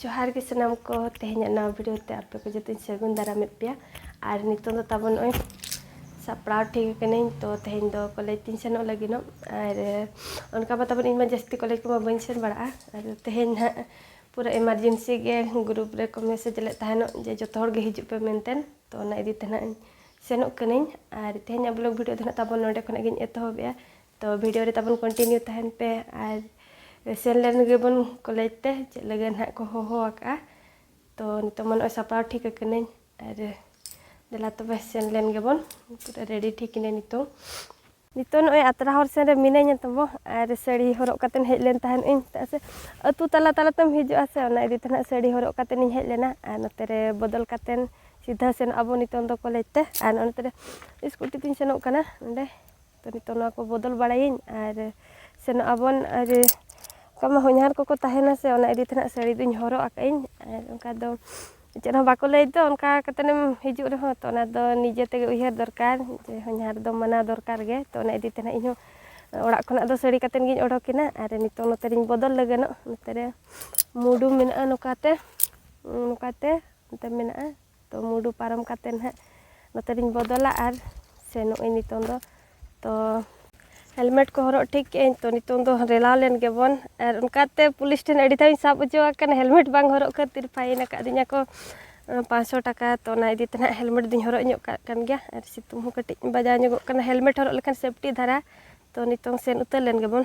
ᱡᱚᱦᱟᱨ ᱜᱮ ᱥᱟᱱᱟᱢ ᱠᱚ ᱛᱮᱦᱮᱧᱟᱜ ᱱᱟᱣᱟ ᱵᱷᱤᱰᱤᱭᱳ ᱛᱮ ᱟᱯᱮ ᱠᱚ ᱡᱚᱛᱚᱧ ᱥᱟᱹᱜᱩᱱ ᱫᱟᱨᱟᱢᱮᱫ ᱯᱮᱭᱟ ᱟᱨ ᱱᱤᱛᱚᱝ ᱫᱚ ᱛᱟᱵᱚᱱ ᱱᱚᱜᱼᱚᱭ ᱥᱟᱯᱲᱟᱣ ᱴᱷᱤᱠ ᱟᱠᱟᱱᱟᱹᱧ ᱛᱚ ᱛᱮᱦᱮᱧ ᱫᱚ ᱠᱚᱞᱮᱡᱽ ᱛᱤᱧ ᱥᱮᱱᱚᱜ ᱞᱟᱹᱜᱤᱫᱚᱜ ᱟᱨ ᱚᱱᱠᱟ ᱢᱟ ᱛᱟᱵᱚᱱ ᱤᱧ ᱢᱟ ᱡᱟᱹᱥᱛᱤ ᱠᱚᱞᱮᱡᱽ ᱠᱚᱢᱟ ᱵᱟᱹᱧ ᱥᱮᱱ ᱵᱟᱲᱟᱜᱼᱟ ᱟᱨ ᱛᱮᱦᱮᱧ ᱦᱟᱸᱜ ᱯᱩᱨᱟᱹ ᱮᱢᱟᱨᱡᱮᱱᱥᱤ ᱜᱮ ᱜᱨᱩᱯ ᱨᱮᱠᱚ ᱢᱮᱥᱮᱡᱽ ᱞᱮᱫ ᱛᱟᱦᱮᱱᱚᱜ ᱡᱮ ᱡᱚᱛᱚ ᱦᱚᱲ ᱜᱮ ᱦᱤᱡᱩᱜ ᱯᱮ ᱢᱮᱱᱛᱮ ᱛᱚ ᱚᱱᱟ ᱤᱫᱤ ᱛᱮ ᱦᱟᱸᱜ ᱥᱮᱱᱚᱜ ᱠᱟᱹᱱᱟᱹᱧ ᱟᱨ ᱛᱮᱦᱮᱧᱟᱜ ᱵᱞᱚᱜᱽ ᱵᱷᱤᱰᱤᱭᱳ ᱫᱚ ᱦᱟᱸᱜ ᱛᱟᱵᱚᱱ ᱱᱚᱰᱮ ᱠᱷᱚᱱᱟᱜ ᱜᱤᱧ ᱮᱛᱚᱦᱚᱵᱮᱜᱼᱟ ᱛᱚ ᱵᱷᱤᱰᱤᱭᱳ ᱨᱮ ᱛᱟᱵᱚᱱ ᱠᱚᱱᱴᱤᱱᱤᱭᱩ ᱛᱟᱦᱮᱱ ᱯᱮ ᱟᱨ ᱥᱮᱱ ᱞᱮᱱ ᱜᱮᱵᱚᱱ ᱠᱚᱞᱮᱡᱽ ᱛᱮ ᱪᱮᱫ ᱞᱟᱹᱜᱤᱫ ᱱᱟᱦᱟᱜ ᱠᱚ ᱦᱚᱦᱚ ᱟᱠᱟᱜᱼᱟ ᱛᱚ ᱱᱤᱛᱚᱜ ᱢᱟ ᱱᱚᱜᱼᱚᱭ ᱥᱟᱯᱲᱟᱣ ᱴᱷᱤᱠ ᱟᱠᱟᱱᱟᱹᱧ ᱟᱨ ᱫᱮᱞᱟ ᱛᱚᱵᱮ ᱥᱮᱱ ᱞᱮᱱ ᱜᱮᱵᱚᱱ ᱯᱩᱨᱟᱹ ᱨᱮᱰᱤ ᱴᱷᱤᱠ ᱤᱱᱟᱹᱧ ᱱᱤᱛᱚᱜ ᱱᱤᱛᱚᱜ ᱱᱚᱜᱼᱚᱭ ᱟᱛᱨᱟ ᱦᱚᱨ ᱥᱮᱱ ᱨᱮ ᱢᱤᱱᱟᱹᱧᱟ ᱛᱟᱵᱚ ᱟᱨ ᱥᱟᱹᱲᱤ ᱦᱚᱨᱚᱜ ᱠᱟᱛᱮᱧ ᱦᱮᱡ ᱞᱮᱱ ᱛᱟᱦᱮᱱ ᱤᱧ ᱪᱮᱫᱟᱜ ᱥᱮ ᱟᱹᱛᱩ ᱛᱟᱞᱟ ᱛᱟᱞᱟ ᱛᱮᱢ ᱦᱤᱡᱩᱜᱼᱟ ᱥᱮ ᱚᱱᱟ ᱤᱫᱤ ᱛᱮ ᱱᱟᱦᱟᱜ ᱥᱟᱹᱲᱤ ᱦᱚᱨᱚᱜ ᱠᱟᱛᱮᱧ ᱦᱮᱡ ᱞᱮᱱᱟ ᱟᱨ ᱱᱚᱛᱮ ᱨᱮ ᱵᱚᱫᱚᱞ ᱠᱟᱛᱮᱱ ᱥᱤᱫᱷᱟᱹ ᱥᱮᱱᱚᱜ ᱟᱵᱚᱱ ᱱᱤᱛᱚᱝ ᱫᱚ ᱠᱚᱞᱮᱡᱽ ᱛᱮ ᱟᱨ ᱱᱚᱛᱮ ᱨᱮ ᱥᱠᱩᱴᱤ ᱛᱤᱧ ᱥᱮᱱᱚᱜ ᱠᱟᱱᱟ ᱚᱸᱰᱮ ᱛᱚ ᱱᱤᱛᱚᱜ ᱱᱚᱣᱟ ᱠᱚ ᱵᱚᱫᱚᱞ ᱵᱟᱲᱟᱭᱟᱹᱧ ᱟᱨ ᱥᱮᱱᱚᱜ ᱟᱵᱚᱱ ᱟᱨ ᱚᱱᱠᱟ ᱢᱟ ᱦᱚᱧᱦᱟᱨ ᱠᱚᱠᱚ ᱛᱟᱦᱮᱱᱟ ᱥᱮ ᱚᱱᱟ ᱤᱫᱤ ᱛᱮᱦᱟᱸᱜ ᱥᱟᱹᱲᱤ ᱫᱚᱧ ᱦᱚᱨᱚᱜ ᱟᱠᱟᱫ ᱟᱹᱧ ᱟᱨ ᱚᱱᱠᱟ ᱫᱚ ᱪᱮᱫ ᱦᱚᱸ ᱵᱟᱠᱚ ᱞᱟᱹᱭ ᱫᱚ ᱚᱱᱠᱟ ᱠᱟᱛᱮᱫ ᱮᱢ ᱦᱤᱡᱩᱜ ᱨᱮᱦᱚᱸ ᱛᱚ ᱚᱱᱟᱫᱚ ᱱᱤᱡᱮ ᱛᱮᱜᱮ ᱩᱭᱦᱟᱹᱨ ᱫᱚᱨᱠᱟᱨ ᱡᱮ ᱦᱚᱧᱦᱟᱨ ᱫᱚ ᱢᱟᱱᱟᱣ ᱫᱚᱨᱠᱟᱨ ᱜᱮ ᱛᱚ ᱚᱱᱟ ᱤᱫᱤ ᱛᱮ ᱦᱟᱸᱜ ᱤᱧ ᱦᱚᱸ ᱚᱲᱟᱜ ᱠᱷᱚᱱᱟᱜ ᱫᱚ ᱥᱟᱹᱲᱤ ᱠᱟᱛᱮᱫ ᱜᱤᱧ ᱚᱰᱚᱠ ᱮᱱᱟ ᱟᱨ ᱱᱤᱛᱚᱜ ᱱᱚᱛᱮ ᱨᱤᱧ ᱵᱚᱫᱚᱞ ᱞᱟᱹᱜᱤᱫᱚᱜ ᱱᱚᱛᱮ ᱨᱮ ᱢᱩᱰᱩ ᱢᱮᱱᱟᱜᱼᱟ ᱱᱚᱝᱠᱟᱛᱮ ᱱᱚᱝᱠᱟᱛᱮ ᱱᱚᱛᱮ ᱢᱮᱱᱟᱜᱼᱟ ᱛᱚ ᱢᱩᱰᱩ ᱯᱟᱨᱚᱢ ᱠᱟᱛᱮ ᱱᱟᱦᱟᱜ ᱱᱚᱛᱮ ᱨᱤᱧ ᱵᱚᱫᱚᱞᱟ ᱟᱨ ᱥᱮᱱᱚᱜ ᱟᱹᱧ ᱱᱤᱛᱚᱝ ᱫᱚ ᱛᱚ ᱦᱮᱞᱢᱮᱴ ᱠᱚ ᱦᱚᱨᱚᱜ ᱴᱷᱤᱠ ᱠᱮᱜ ᱟᱹᱧ ᱛᱚ ᱱᱤᱛᱚᱝ ᱫᱚ ᱨᱮᱞᱟᱣ ᱞᱮᱱ ᱜᱮᱵᱚᱱ ᱟᱨ ᱚᱱᱠᱟᱛᱮ ᱯᱩᱞᱤᱥ ᱴᱷᱮᱱ ᱟᱹᱰᱤ ᱫᱷᱟᱣ ᱤᱧ ᱥᱟᱵ ᱦᱚᱪᱚ ᱟᱠᱟᱱᱟ ᱦᱮᱞᱢᱮᱴ ᱵᱟᱝ ᱦᱚᱨᱚᱜ ᱠᱷᱟᱹᱛᱤᱨ ᱯᱷᱟᱭᱤᱱ ᱟᱠᱟᱫᱤᱧᱟ ᱠᱚ ᱯᱟᱸᱪᱥᱚ ᱴᱟᱠᱟ ᱛᱚ ᱚᱱᱟ ᱤᱫᱤ ᱛᱮ ᱱᱟᱦᱟᱜ ᱦᱮᱞᱢᱮᱴ ᱫᱚᱧ ᱦᱚᱨᱚᱜ ᱧᱚᱜ ᱠᱟᱜ ᱠᱟᱱ ᱜᱮᱭᱟ ᱟᱨ ᱥᱤᱛᱩᱝ ᱦᱚᱸ ᱠᱟᱹᱴᱤᱡ ᱵᱟᱡᱟᱣ ᱧᱚᱜᱚᱜ ᱠᱟᱱᱟ ᱦᱮᱞᱢᱮᱴ ᱦᱚᱨᱚᱜ ᱞᱮᱠᱷᱟᱱ ᱥᱮᱯᱴᱤ ᱫᱷᱟᱨᱟ ᱛᱚ ᱱᱤᱛᱚᱝ ᱥᱮᱱ ᱩᱛᱟᱹᱨ ᱞᱮᱱ ᱜᱮᱵᱚᱱ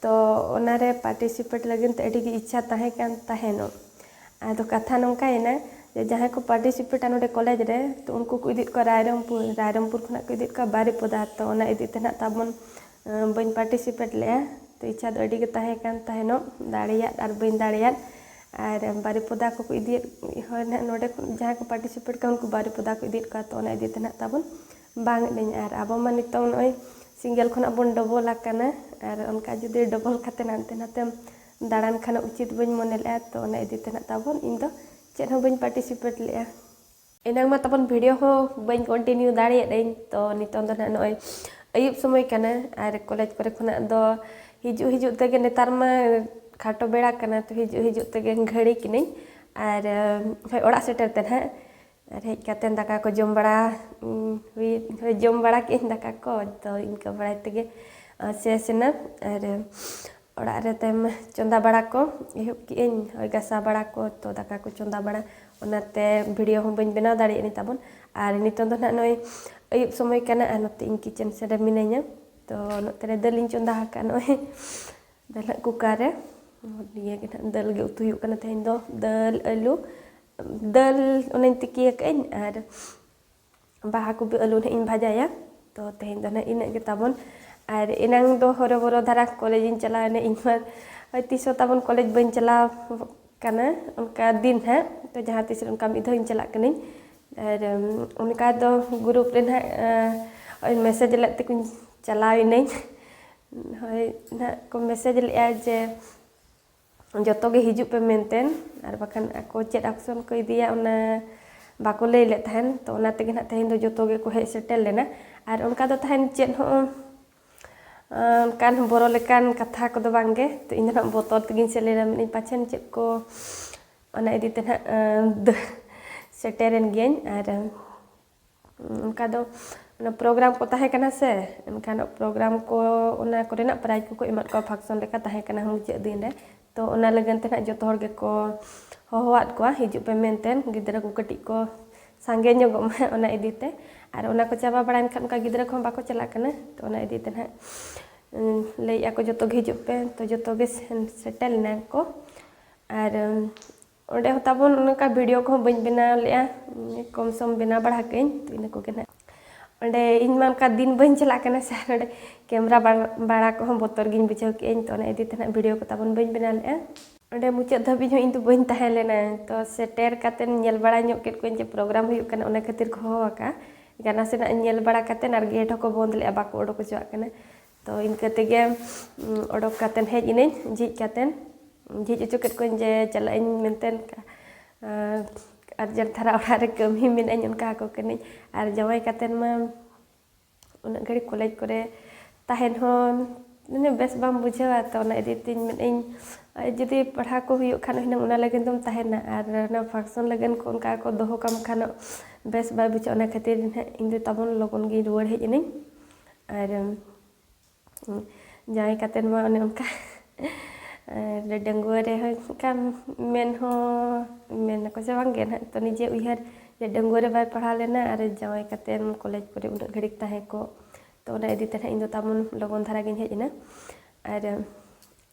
ᱛᱚ ᱚᱱᱟ ᱨᱮ ᱯᱟᱨᱴᱤᱥᱤᱯᱮᱴ ᱞᱟᱹᱜᱤᱫ ᱛᱮ ᱟᱹᱰᱤ ᱜᱮ ᱤᱪᱪᱷᱟ ᱛᱟᱦᱮᱸ ᱠᱟᱱ ᱛᱟᱦᱮᱱᱚᱜ ᱟᱫᱚ ᱠᱟᱛᱷᱟ ᱱᱚᱝᱠᱟᱭᱮᱱᱟ ᱡᱮ ᱡᱟᱦᱟᱸᱭ ᱠᱚ ᱯᱟᱨᱴᱤᱥᱤᱯᱮᱴᱟ ᱱᱚᱰᱮ ᱠᱚᱞᱮᱡᱽ ᱨᱮ ᱛᱚ ᱩᱱᱠᱩ ᱠᱚ ᱤᱫᱤᱭᱮᱫ ᱠᱚᱣᱟ ᱨᱟᱭᱨᱚᱝᱯᱩᱨ ᱨᱟᱭᱨᱚᱝᱯᱩᱨ ᱠᱷᱚᱱᱟᱜ ᱠᱚ ᱤᱫᱤᱭᱮᱫ ᱠᱚᱣᱟ ᱵᱟᱨᱤᱯᱚᱫᱟ ᱛᱚ ᱚᱱᱟ ᱤᱫᱤ ᱛᱮ ᱱᱟᱦᱟᱜ ᱛᱟᱵᱚᱱ ᱵᱟᱹᱧ ᱯᱟᱨᱴᱤᱥᱤᱯᱮᱴ ᱞᱮᱜᱼᱟ ᱛᱚ ᱤᱪᱪᱷᱟ ᱫᱚ ᱟᱹᱰᱤ ᱜᱮ ᱛᱟᱦᱮᱸ ᱠᱟᱱ ᱛᱟᱦᱮᱱᱚᱜ ᱫᱟᱲᱮᱭᱟᱫ ᱟᱨ ᱵᱟᱹᱧ ᱫᱟᱲᱮᱭᱟᱫ ᱟᱨ ᱵᱟᱨᱤᱯᱚᱫᱟ ᱠᱚ ᱠᱚ ᱤᱫᱤᱭᱮᱫ ᱦᱚᱲ ᱱᱟᱦᱟᱜ ᱱᱚᱰᱮ ᱠᱷᱚᱱ ᱡᱟᱦᱟᱸᱭ ᱠᱚ ᱯᱟᱨᱴᱤᱥᱤᱯᱮᱴ ᱠᱟᱱᱟ ᱩᱱᱠᱩ ᱵᱟᱨᱤᱯᱚᱫᱟ ᱠᱚ ᱤᱫᱤᱭᱮᱫ ᱠᱚᱣᱟ ᱛᱚ ᱚᱱᱟ ᱤᱫᱤ ᱛᱮ ᱱᱟᱦᱟᱜ ᱛᱟᱵᱚᱱ ᱵᱟᱝ ᱮᱫᱟᱹᱧ ᱟᱨ ᱟᱵᱚ ᱢᱟ ᱱᱤᱛᱚᱝ ᱱᱚᱜᱼᱚᱭ ᱥᱤᱝᱜᱮᱞ ᱠᱷᱚᱱᱟᱜ ᱵᱚᱱ ᱰᱚᱵᱚᱞ ᱟᱠᱟᱱᱟ ᱟᱨ ᱚᱱᱠᱟ ᱡᱩᱫᱤ ᱰᱚᱵᱚᱞ ᱠᱟᱛᱮ ᱦᱟᱱᱛᱮ ᱱᱟᱛᱮᱢ ᱫᱟᱬᱟᱱ ᱠᱷᱟᱱ ᱩᱪᱤᱛ ᱵᱟᱹᱧ ᱢᱚᱱᱮ ᱞᱮᱫᱼᱟ ᱛᱚ ᱚᱱᱟ ᱤᱫᱤ ᱛᱮ ᱱᱟᱦᱟᱜ ᱛᱟᱵᱚᱱ ᱤᱧ ᱫᱚ ᱪᱮᱫ ᱦᱚᱸ ᱵᱟᱹᱧ ᱯᱟᱨᱴᱤᱥᱤᱯᱮᱴ ᱞᱮᱫᱼᱟ ᱮᱱᱟᱝ ᱢᱟ ᱛᱟᱵᱚᱱ ᱵᱷᱤᱰᱤᱭᱳ ᱦᱚᱸ ᱵᱟᱹᱧ ᱠᱚᱱᱴᱤᱱᱤᱭᱩ ᱫᱟᱲᱮᱭᱟᱫᱟᱹᱧ ᱛᱚ ᱱᱤᱛᱚᱝ ᱫᱚ ᱱᱟᱦᱟᱜ ᱱᱚᱜᱼᱚᱭ ᱟᱹᱭᱩᱵ ᱥᱚᱢᱚᱭ ᱠᱟᱱᱟ ᱟᱨ ᱠᱚᱞᱮᱡᱽ ᱠᱚᱨᱮ ᱠᱷᱚᱱᱟᱜ ᱫᱚ ᱦᱤᱡᱩᱜ ᱦᱤᱡᱩᱜ ᱛᱮᱜᱮ ᱱᱮᱛᱟᱨ ᱢᱟ ᱠᱷᱟᱴᱚ ᱵᱮᱲᱟ ᱠᱟᱱᱟ ᱛᱚ ᱦᱤᱡᱩᱜ ᱦᱤᱡᱩᱜ ᱛᱮᱜᱮ ᱜᱷᱟᱹᱲᱤᱠ ᱮᱱᱟᱹᱧ ᱟᱨ ᱦᱳᱭ ᱚᱲᱟᱜ ᱥᱮᱴᱮᱨ ᱛᱮ ᱱᱟᱦᱟᱜ ᱟᱨ ᱦᱮᱡ ᱠᱟᱛᱮᱫ ᱫᱟᱠᱟ ᱠᱚ ᱡᱚᱢ ᱵᱟᱲᱟ ᱦᱩᱭ ᱦᱳᱭ ᱡᱚᱢ ᱵᱟᱲᱟ ᱠᱮᱫ ᱟᱹᱧ ᱫᱟᱠᱟ ᱠᱚ ᱛᱚ ᱤᱱᱠᱟᱹ ᱵᱟᱲᱟᱭ ᱛᱮᱜᱮ ᱥᱮᱥ ᱮᱱᱟ ᱟᱨ ᱚᱲᱟᱜ ᱨᱮ ᱛᱟᱭᱚᱢ ᱪᱚᱸᱫᱟ ᱵᱟᱲᱟ ᱠᱚ ᱮᱦᱚᱵ ᱠᱮᱫ ᱟᱹᱧ ᱳᱭ ᱜᱟᱥᱟᱣ ᱵᱟᱲᱟ ᱠᱚ ᱛᱚ ᱫᱟᱠᱟ ᱠᱚ ᱪᱚᱸᱫᱟ ᱵᱟᱲᱟ ᱚᱱᱟᱛᱮ ᱵᱷᱤᱰᱤᱭᱳ ᱦᱚᱸ ᱵᱟᱹᱧ ᱵᱮᱱᱟᱣ ᱫᱟᱲᱮᱭᱟᱜ ᱟᱹᱧ ᱛᱟᱵᱚᱱ ᱟᱨ ᱱᱤᱛᱚᱝ ᱫᱚ ᱦᱟᱸᱜ ᱱᱚᱜᱼᱚᱭ ᱟᱹᱭᱩᱵ ᱥᱚᱢᱚᱭ ᱠᱟᱱᱟ ᱟᱨ ᱱᱚᱛᱮ ᱤᱧ ᱠᱤᱪᱮᱱ ᱥᱮᱫ ᱨᱮ ᱢᱤᱱᱟᱹᱧᱟ ᱛᱚ ᱱᱚᱛᱮ ᱨᱮ ᱫᱟᱹᱞ ᱤᱧ ᱪᱚᱸᱫᱟ ᱟᱠᱟᱫᱼᱟ ᱱᱚᱜᱼᱚᱭ ᱫᱟᱹᱞ ᱦᱟᱸᱜ ᱠᱩᱠᱟᱨ ᱨᱮ ᱱᱤᱭᱟᱹᱜᱮ ᱦᱟᱸᱜ ᱫᱟᱹᱞ ᱜᱮ ᱩᱛᱩ ᱦᱩᱭᱩᱜ ᱠᱟᱱᱟ ᱛᱮᱦᱮᱧ ᱫᱚ ᱫᱟᱹᱞ ᱟᱹᱞᱩ ᱫᱟᱹᱞ ᱚᱱᱮᱧ ᱛᱤᱠᱤ ᱟᱠᱟᱫᱟᱹᱧ ᱟᱨ ᱵᱟᱦᱟ ᱠᱚᱯᱤ ᱟᱹᱞᱩ ᱱᱟᱦᱟᱜ ᱤᱧ ᱵᱷᱟᱡᱟᱭᱟ ᱛᱚ ᱛᱮᱦᱮᱧ ᱫᱚ ᱱᱟᱦᱟᱜ ᱤᱱᱟᱹᱜ ᱜᱮ ᱛᱟᱵᱚᱱ ᱟᱨ ᱮᱱᱟᱝ ᱫᱚ ᱦᱚᱨᱚᱵᱚᱨᱚ ᱫᱷᱟᱨᱟ ᱠᱚᱞᱮᱡᱽ ᱤᱧ ᱪᱟᱞᱟᱣ ᱮᱱᱟ ᱤᱧ ᱢᱟ ᱦᱳᱭ ᱛᱤᱥ ᱦᱚᱸ ᱛᱟᱵᱚᱱ ᱠᱚᱞᱮᱡᱽ ᱵᱟᱹᱧ ᱪᱟᱞᱟᱣ ᱠᱟᱱᱟ ᱚᱱᱠᱟ ᱫᱤᱱ ᱦᱟᱸᱜ ᱛᱚ ᱡᱟᱦᱟᱸ ᱛᱤᱥ ᱨᱮ ᱚᱱᱠᱟ ᱢᱤᱫ ᱫᱷᱟᱣ ᱤᱧ ᱪᱟᱞᱟᱜ ᱠᱟᱹᱱᱟᱹᱧ ᱟᱨ ᱚᱱᱠᱟ ᱫᱚ ᱜᱨᱩᱯ ᱨᱮ ᱱᱟᱦᱟᱜ ᱳᱭ ᱢᱮᱥᱮᱡᱽ ᱞᱮᱫ ᱛᱮᱠᱚᱧ ᱪᱟᱞᱟᱣ ᱮᱱᱟᱹᱧ ᱦᱳᱭ ᱱᱟᱦᱟᱜ ᱠᱚ ᱢᱮᱥᱮᱡᱽ ᱞᱮᱫᱼᱟ ᱡᱮ ᱡᱚᱛᱚ ᱜᱮ ᱦᱤᱡᱩᱜ ᱯᱮ ᱢᱮᱱᱛᱮ ᱟᱨ ᱵᱟᱠᱷᱟᱱ ᱟᱠᱚ ᱪᱮᱫ ᱟᱠᱥᱚᱱ ᱠᱚ ᱤᱫᱤᱭᱟ ᱚᱱᱟ ᱵᱟᱠᱚ ᱞᱟᱹᱭ ᱞᱮᱫ ᱛᱟᱦᱮᱱ ᱛᱚ ᱚᱱᱟ ᱛᱮᱜᱮ ᱱᱟᱦᱟᱜ ᱛᱮᱦᱮᱧ ᱫᱚ ᱡᱚᱛᱚ ᱜᱮᱠᱚ ᱦᱮᱡ ᱥᱮᱴᱮᱨ ᱞᱮᱱᱟ ᱟᱨ ᱚᱱᱠᱟ ᱫᱚ ᱛᱟᱦᱮᱱ ᱪᱮᱫ ᱦᱚᱸ ᱚᱱᱠᱟᱱ ᱵᱚᱨᱚ ᱞᱮᱠᱟᱱ ᱠᱟᱛᱷᱟ ᱠᱚᱫᱚ ᱵᱟᱝᱜᱮ ᱛᱚ ᱤᱧ ᱫᱚ ᱱᱟᱦᱟᱜ ᱵᱚᱛᱚᱨ ᱛᱮᱜᱮᱧ ᱥᱮᱱ ᱞᱮᱱᱟ ᱢᱮᱱᱮᱫ ᱯᱟᱪᱷᱮᱱ ᱪᱮᱫ ᱠᱚ ᱚᱱᱟ ᱤᱫᱤ ᱛᱮ ᱱᱟᱦᱟᱜ ᱥᱮᱴᱮᱨᱮᱱ ᱜᱤᱭᱟᱹᱧ ᱟᱨ ᱚᱱᱠᱟ ᱫᱚ ᱚᱱᱟ ᱯᱨᱳᱜᱨᱟᱢ ᱠᱚ ᱛᱟᱦᱮᱸ ᱠᱟᱱᱟ ᱥᱮ ᱮᱱᱠᱷᱟᱱ ᱯᱨᱳᱜᱨᱟᱢ ᱠᱚ ᱚᱱᱟ ᱠᱚᱨᱮᱱᱟᱜ ᱯᱨᱟᱭᱤᱡᱽ ᱠᱚᱠᱚ ᱮᱢᱟᱜ ᱠᱚᱣᱟ ᱯᱷᱟᱱᱥᱚᱱ ᱞᱮᱠᱟ ᱛᱟᱦᱮᱸ ᱠᱟᱱᱟ ᱢᱩᱪᱟᱹᱫ ᱫᱤᱱ ᱨᱮ ᱛᱚ ᱚᱱᱟ ᱞᱟᱹᱜᱤᱫ ᱛᱮ ᱦᱟᱸᱜ ᱡᱚᱛᱚ ᱦᱚᱲ ᱜᱮᱠᱚ ᱦᱚᱦᱚᱣᱟᱫ ᱠᱚᱣᱟ ᱦᱤᱡᱩᱜ ᱯᱮ ᱢᱮᱱᱛᱮ ᱜᱤᱫᱽᱨᱟᱹ ᱠᱚ ᱠᱟᱹᱴᱤᱡ ᱠᱚ ᱥᱟᱸᱜᱮ ᱧᱚᱜᱚᱜ ᱢᱟ ᱚᱱᱟ ᱤᱫᱤ ᱛᱮ ᱟᱨ ᱚᱱᱟ ᱠᱚ ᱪᱟᱵᱟ ᱵᱟᱲᱟᱭᱮᱱ ᱠᱷᱟᱱ ᱚᱱᱠᱟ ᱜᱤᱫᱽᱨᱟᱹ ᱠᱚᱦᱚᱸ ᱵᱟᱠᱚ ᱪᱟᱞᱟᱜ ᱠᱟᱱᱟ ᱛᱚ ᱚᱱᱟ ᱤᱫᱤ ᱛᱮ ᱦᱟᱸᱜ ᱞᱟᱹᱭᱮᱜᱼᱟ ᱠᱚ ᱡᱚᱛᱚᱜᱮ ᱦᱤᱡᱩᱜ ᱯᱮ ᱛᱚ ᱡᱚᱛᱚᱜᱮ ᱥᱮᱱ ᱥᱮᱴᱮᱨ ᱞᱮᱱᱟ ᱠᱚ ᱟᱨ ᱚᱸᱰᱮ ᱦᱚᱸ ᱛᱟᱵᱚᱱ ᱚᱱᱠᱟ ᱵᱷᱤᱰᱤᱭᱳ ᱠᱚᱦᱚᱸ ᱵᱟᱹᱧ ᱵᱮᱱᱟᱣ ᱞᱮᱜᱼᱟ ᱠᱚᱢ ᱥᱚᱢ ᱵᱮᱱᱟᱣ ᱵᱟᱲᱟ ᱠᱟᱹᱧ ᱛᱚ ᱤᱱᱟᱹ ᱠᱚᱜᱮ ᱱᱟᱜ ᱚᱸᱰᱮ ᱤᱧ ᱢᱟ ᱚᱱᱠᱟ ᱫᱤᱱ ᱵᱟᱹᱧ ᱪᱟᱞᱟᱜ ᱠᱟᱱᱟ ᱥᱮ ᱚᱸᱰᱮ ᱠᱮᱢᱨᱟ ᱵᱟᱲᱟ ᱠᱚᱦᱚᱸ ᱵᱚᱛᱚᱨ ᱜᱤᱧ ᱵᱩᱡᱷᱟᱹᱣ ᱠᱮᱜᱼᱟᱹᱧ ᱛᱚ ᱚᱱᱟ ᱤᱫᱤ ᱛᱮ ᱱᱟᱜ ᱵᱷᱤᱰᱤᱭᱳ ᱠᱚ ᱛᱟᱵᱚᱱ ᱵᱟᱹᱧ ᱵᱮᱱᱟᱣ ᱞᱮᱜᱼᱟ ᱚᱸᱰᱮ ᱢᱩᱪᱟᱹᱫ ᱫᱷᱟᱹᱵᱤᱡ ᱦᱚᱸ ᱤᱧ ᱫᱚ ᱵᱟᱹᱧ ᱛᱟᱦᱮᱸ ᱞᱮᱱᱟ ᱛᱚ ᱥᱮᱴᱮᱨ ᱠᱟᱛᱮ ᱧᱮᱞ ᱵᱟᱲᱟ ᱧᱚᱜ ᱠᱮᱫ ᱠᱚᱣᱟᱧ ᱡᱮ ᱯᱨᱳᱜᱨᱟᱢ ᱦᱩᱭᱩᱜ ᱠᱟᱱᱟ ᱚᱱᱟ ᱠᱷᱟᱹᱛᱤᱨ ᱠᱚ ᱦᱚᱦᱚ ᱟᱠᱟᱜᱼᱟ ᱜᱟᱱᱟ ᱥᱮᱱᱟᱜ ᱧᱮᱞ ᱵᱟᱲᱟ ᱠᱟᱛᱮ ᱟᱨ ᱜᱮᱴ ᱦᱚᱸᱠᱚ ᱵᱚᱸᱫᱽ ᱞᱮᱜᱼᱟ ᱵᱟᱠᱚ ᱚᱰᱚᱠ ᱦᱚᱪᱚᱣᱟᱜ ᱠᱟᱱᱟ ᱛᱚ ᱤᱱᱠᱟᱹ ᱛᱮᱜᱮ ᱚᱰᱚᱠ ᱠᱟᱛᱮᱫ ᱦᱮᱡ ᱮᱱᱟᱹᱧ ᱡᱷᱤᱡ ᱠᱟᱛᱮᱫ ᱡᱷᱤᱡ ᱦᱚᱪᱚ ᱠᱮᱫ ᱠᱚᱣᱟᱹᱧ ᱡᱮ ᱪᱟᱞᱟᱜ ᱟᱹᱧ ᱢᱮᱱᱛᱮ ᱟᱨᱡᱮᱱᱴ ᱫᱷᱟᱨᱟ ᱚᱲᱟᱜ ᱨᱮ ᱠᱟᱹᱢᱤ ᱢᱮᱱᱟᱜᱼᱟ ᱚᱱᱠᱟ ᱟᱠᱚ ᱠᱟᱹᱱᱟᱹᱧ ᱟᱨ ᱡᱟᱶᱟᱭ ᱠᱟᱛᱮᱫ ᱢᱟ ᱩᱱᱟᱹᱜ ᱜᱷᱟᱹᱲᱤᱡ ᱠᱚᱞᱮᱡᱽ ᱠᱚᱨᱮ ᱛᱟᱦᱮᱱ ᱦᱚᱸ ᱢᱟᱱᱮ ᱵᱮᱥ ᱵᱟᱢ ᱵᱩᱡᱷᱟᱹᱣᱟ ᱛᱚ ᱚᱱᱟ ᱤᱫᱤ ᱛᱤᱧ ᱢᱮᱱᱮᱫ ᱟᱹᱧ ᱡᱩᱫᱤ ᱯᱟᱲᱦᱟᱣ ᱠᱚ ᱦᱩᱭᱩᱜ ᱠᱷᱟᱱ ᱦᱩᱱᱟᱹᱝ ᱚᱱᱟ ᱞᱟᱹᱜᱤᱫ ᱫᱚᱢ ᱛᱟᱦᱮᱱᱟ ᱟᱨ ᱚᱱᱟ ᱯᱷᱟᱱᱥᱚᱱ ᱞᱟᱹᱜᱤᱫ ᱠᱚ ᱚᱱᱠᱟ ᱠᱚ ᱫᱚᱦᱚ ᱠᱟᱢ ᱠᱷᱟᱱ ᱵᱮᱥ ᱵᱟᱭ ᱵᱩᱡᱷᱟᱹᱜᱼᱟ ᱚᱱᱟ ᱠᱷᱟᱹᱛᱤᱨ ᱦᱟᱸᱜ ᱤᱧᱫᱚ ᱛᱟᱵᱚᱱ ᱞᱚᱜᱚᱱ ᱜᱤᱧ ᱨᱩᱣᱟᱹᱲ ᱦᱮᱡ ᱮᱱᱟᱹᱧ ᱟᱨ ᱡᱟᱶᱟᱭ ᱠᱟᱛᱮᱫ ᱢᱟ ᱚᱱᱮ ᱚᱱᱠᱟ ᱟᱨ ᱰᱟᱺᱜᱩᱣᱟᱹ ᱨᱮᱦᱚᱸ ᱚᱱᱠᱟ ᱢᱮᱱ ᱦᱚᱸ ᱢᱮᱱ ᱟᱠᱚ ᱥᱮ ᱵᱟᱝᱜᱮ ᱱᱟᱦᱟᱜ ᱛᱚ ᱱᱤᱡᱮ ᱩᱭᱦᱟᱹᱨ ᱡᱮ ᱰᱟᱺᱜᱩᱣᱟᱹ ᱨᱮ ᱵᱟᱭ ᱯᱟᱲᱦᱟᱣ ᱞᱮᱱᱟ ᱟᱨ ᱡᱟᱶᱟᱭ ᱠᱟᱛᱮᱫ ᱠᱚᱞᱮᱡᱽ ᱠᱚᱨᱮ ᱩᱱᱟᱹᱜ ᱜᱷᱟᱹᱲᱤᱠ ᱛᱟᱦᱮᱸ ᱠᱚᱜ ᱛᱚ ᱚᱱᱟ ᱤᱫᱤ ᱛᱮ ᱱᱟᱦᱟᱜ ᱤᱧ ᱫᱚ ᱛᱟᱵᱚᱱ ᱞᱚᱜᱚᱱ ᱫᱷᱟᱨᱟ ᱜᱤᱧ ᱦᱮᱡ ᱮᱱᱟ ᱟᱨ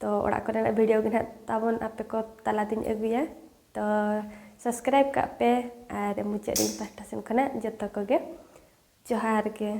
ᱛᱚ ᱚᱲᱟᱜ ᱠᱚᱨᱮᱱᱟᱜ ᱵᱷᱤᱰᱤᱭᱳ ᱜᱮ ᱱᱟᱦᱟᱜ ᱛᱟᱵᱚᱱ ᱟᱯᱮ ᱠᱚ ᱛᱟᱞᱟ ᱛᱤᱧ ᱟᱹᱜᱩᱭᱟ ᱛᱚ ᱥᱟᱵᱥᱠᱨᱟᱭᱤᱵ ᱠᱟᱜ ᱯᱮ ᱟᱨ ᱢᱩᱪᱟᱹᱫ ᱨᱮ ᱤᱧ ᱯᱟᱦᱴᱟ ᱥᱮᱱ ᱠᱷᱚᱱᱟᱜ ᱡᱚᱛᱚ ᱠᱚᱜᱮ ᱡᱚᱦᱟᱨ ᱜᱮ